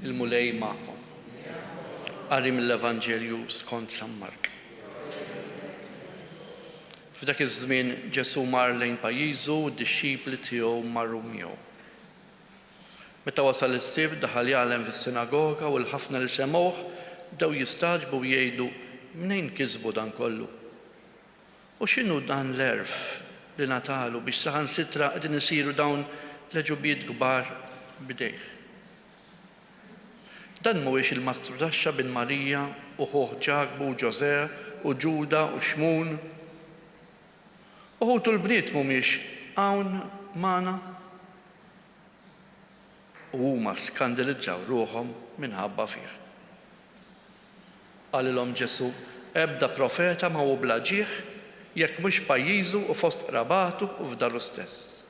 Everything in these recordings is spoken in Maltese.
Il-Mulej magħkom. Qari mill-Evanġelju skont San Mark. F'dak iż-żmien Ġesù mar lejn pajjiżu u d-dixxipli tiegħu marru miegħu. Meta wasal is-Sibt, daħal jgħallem fis-sinagoga u l-ħafna li semgħuh bdew jistagħġbu u jgħidu, Mnejn kisbu dan kollu? U x'inhu dan l-għerf li ngħatalu biex saħansitra qegħdin isiru dawn l-għeġubiet kbar b'idejh? Dan mhuwiex il-mastru taxxa bin Marija u ħuh Ġakbu u Ġożè u Ġuda u Xmun? U ħutu l-bniet mhumiex hawn magħna? u huma skandilizzaw ruħhom minħabba fih. Qalilhom Ġesù, Ebda profeta ma hu bla ġieħ jekk mhux f'pajjiżu u fost qrabatu u f'daru stess.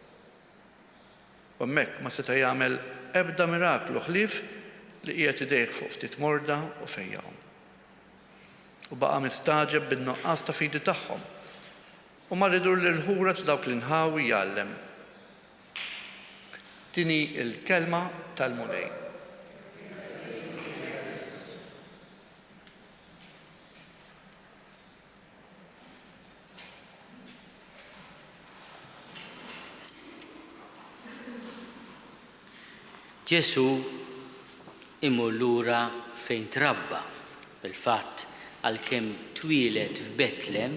U hemmhekk ma seta' jagħmel ebda miraklu ħlief li qiegħed idejh fuq ftit morda u fejjaqhom. U baqa' mistagħġeb bin-nuqqas ta' fidi tagħhom, u mar idur l-irħula ta' dawk l-inħawi jgħallem, Din hi l-kelma tal-Mulej. Ġesù imur lura fejn trabba. Fil-fatt, għalkemm twieled f'Betlem,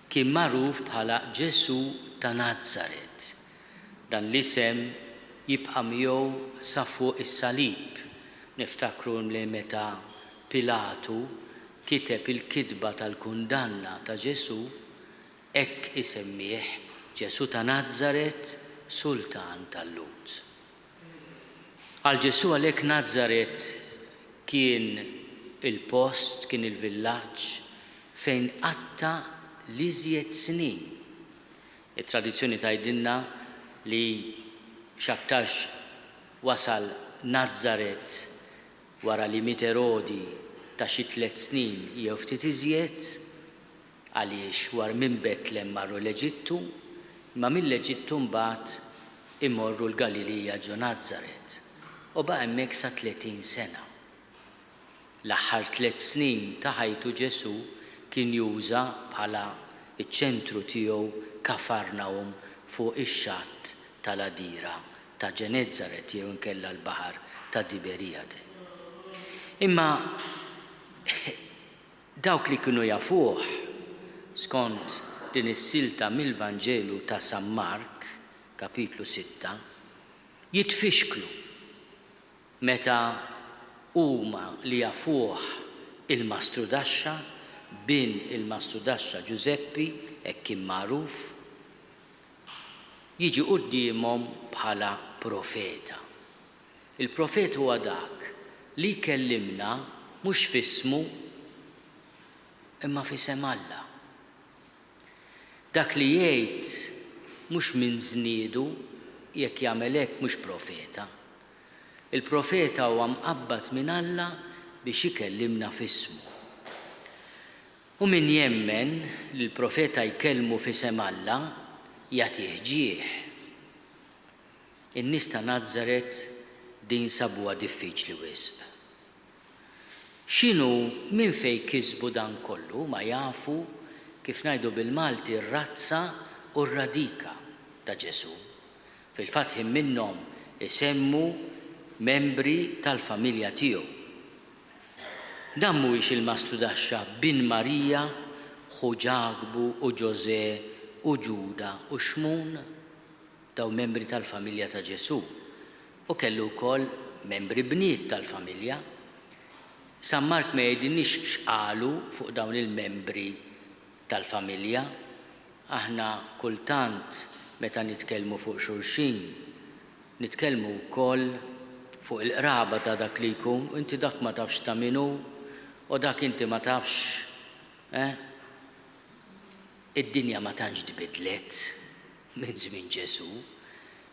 Kien magħruf bħala Ġesù ta' Nazaret. Dan l-isem jibqa' miegħu sa fuq is-salib. Niftakru li meta Pilatu kiteb il-kitba tal-kundanna ta' Ġesù, hekk isemmih, Ġesù ta' Nazaret, Sultan tal-Lhud. Għal Ġesù għalhekk Nazaret kien il-post, kien il-villaġġ fejn qatta' l-iżjed snin. It-tradizzjoni tgħidilna li x'aktarx wasal Nazaret wara li miet Erodi ta' xi tliet snin jew ftit iżjed, Għaliex war minn Betlem marru l-Eġittu, imma mill-Eġittu mbagħad imorru l-Galilija ġo Nazaret, u baqa' hemmhekk sa tletin sena. L-aħħar tliet snin ta' ħajtu Ġesù kien juża bħala ċ-ċentru tiegħu Kafarnahum fuq ix-xatt tal-għadira ta' Ġenezzaret jew inkella l-baħar ta' Tiberijade. Imma Dawk li kienu jafuh, skont din is-silta mill-Vanġelu ta' San Mark, Kapitlu sitta, jitfixklu meta huma li jafuh il-Mastrudaxxa, bin il-Mastrudaxxa Ġużeppi, hekk kien magħruf, jiġi quddiemhom bħala profeta. Il-profet huwa dak li jkellimna mhux f'ismu imma f'isem Alla. Dak li jgħid mhux minn żniedu, jekk jagħmel hekk mhux profeta. Il-profeta huwa mqabbad minn Alla biex ikellimna f'ismu. U min jemmen li l-profeta jkellmu f'isem Alla, jagħtih ġieħ. In-nies ta' Nazaret din sabuha diffiċli wisq. X'inhu minn fejn kisbu dan kollu huma jafu, kif ngħidu bil-Malti, r-razza u r-radika ta' Ġesù. Fil-fatt ħin minnhom isemmu membri tal-familja tiegħu. Dan mhuwiex il-mastudaxxa bin Marija, ħu Ġakbu u Ġożè u Ġuda u Xmun? dawn membri tal-familja ta' Ġesù, u kellu wkoll membri bniet tal-familja. San Mark ma jgħidilniex x'qalu fuq dawn il-membri tal-familja. Aħna kultant meta nitkellmu fuq xulxin, nitkellmu wkoll fuq il-qraba ta' dak li jkun, u inti dak ma tafx ta' min hu, u dak inti ma tafx, eh? Id-dinja ma tantx tbiddlet. Minn żmien Ġesù,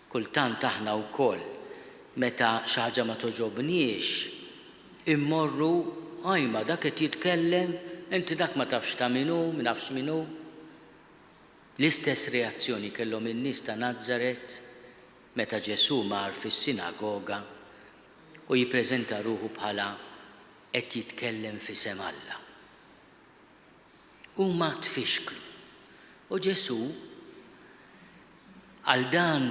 kultant aħna wkoll meta xi ħaġa ma togħġobniex immorru, ajma dak qed jitkellem, inti dak ma tafx ta' min hu, ma nafx min hu. L-istess reazzjoni kellhom in-nies ta' Nazaret meta Ġesù mar fis-sinagoga u jippreżenta ruħu bħala qed jitkellem f'isem Alla. huma tfixklu. U Ġesù, għal dan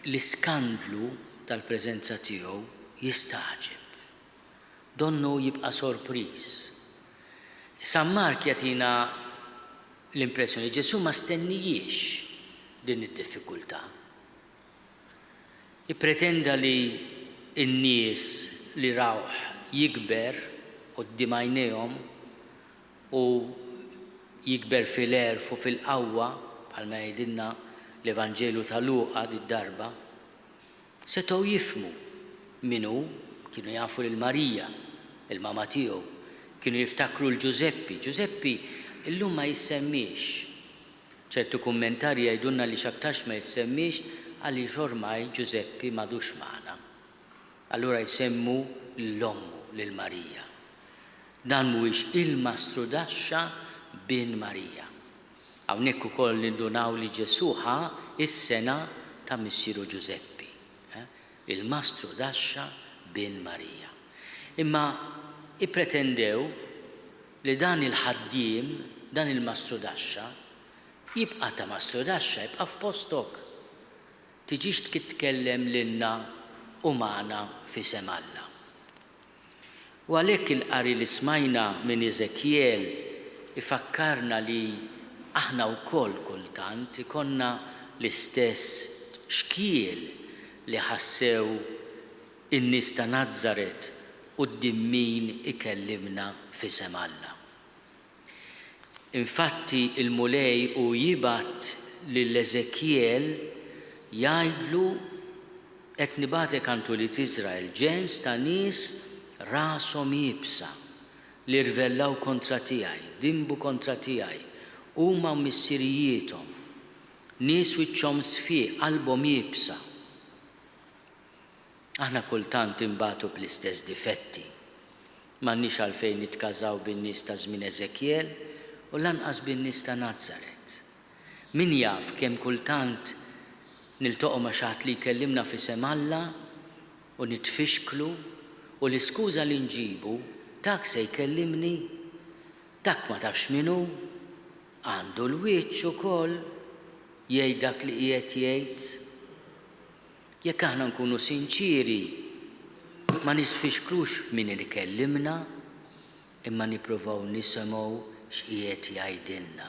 l-iskandlu tal-preżenza tiegħu, jistagħġeb. Donnu jibqa' sorpriż. San Mark jagħtina l-impressjoni li Ġesù ma stennijiex din id-diffikultà. Ippretenda li n-nies li rawh jikber quddiem għajnejhom u jikber fil-għerf u fil-qawwa, bħalma jgħidilna l-Evanġelju ta' Luqa did-darba, setgħu jifhmu min hu, kienu jafu lil Marija, il-mama tiegħu, kienu jiftakru 'l Ġużeppi. Ġużeppi llum ma jissemmiex. Ċertu kummentarji jgħidulna li x'aktarx ma jissemmiex għaliex ormai Ġużeppi m'għadux magħna. Allura jsemmu lil ommu, lil Marija. Dan mhuwiex il-Mastru Daxxa bin Marija. Hawnhekk ukoll nindunaw li Ġesù ħa s-sengħa ta' missieru Ġużeppi. Il-Mastru Daxxa bin Marija. Imma ippretendew li dan il-ħaddiem, dan il-mastrudaxxa, jibqa' ta' mastrudaxxa, ibqa' f'postok. Tiġix tkitkellem lilna u magħna f'isem Alla. U għalhekk il-qari li smajna minn Eżekjel ifakkarna li aħna wkoll kultant ikollna l-istess xkiel li ħassew In-nies ta' Nazaret quddiem min ikellimna f'isem Alla? Infatti l-Mulej hu jibgħat lil Eżekjel jgħidlu, Qed nibgħatek għand ulied Iżrael, ġens ta' nies rashom iebsa, li rvellaw kontra tiegħi, dinbu kontra tiegħi, huma u missirijiethom, nies wiċċhom sfiq, qalbhom iebsa. Aħna kultant inbatu bl-istess difetti. M'għandniex għalfejn nitkażaw bin-nies ta' żmien Eżekjel u lanqas bin-nies ta' Nazaret. Min jaf kemm kultant niltoqgħu ma' xi ħadd li jkellimna f'isem Alla u nitfixklu u l-iskuża li nġibu, Dak se jkellimni? Dak ma tafx min hu? Għandu l-wiċċ ukoll jgħid dak li qiegħed jgħid? Jekk aħna nkunu sinċieri, ma nifixklux f'min ikellimna, imma nippruvaw nisimgħu x'qiegħed jgħidilna.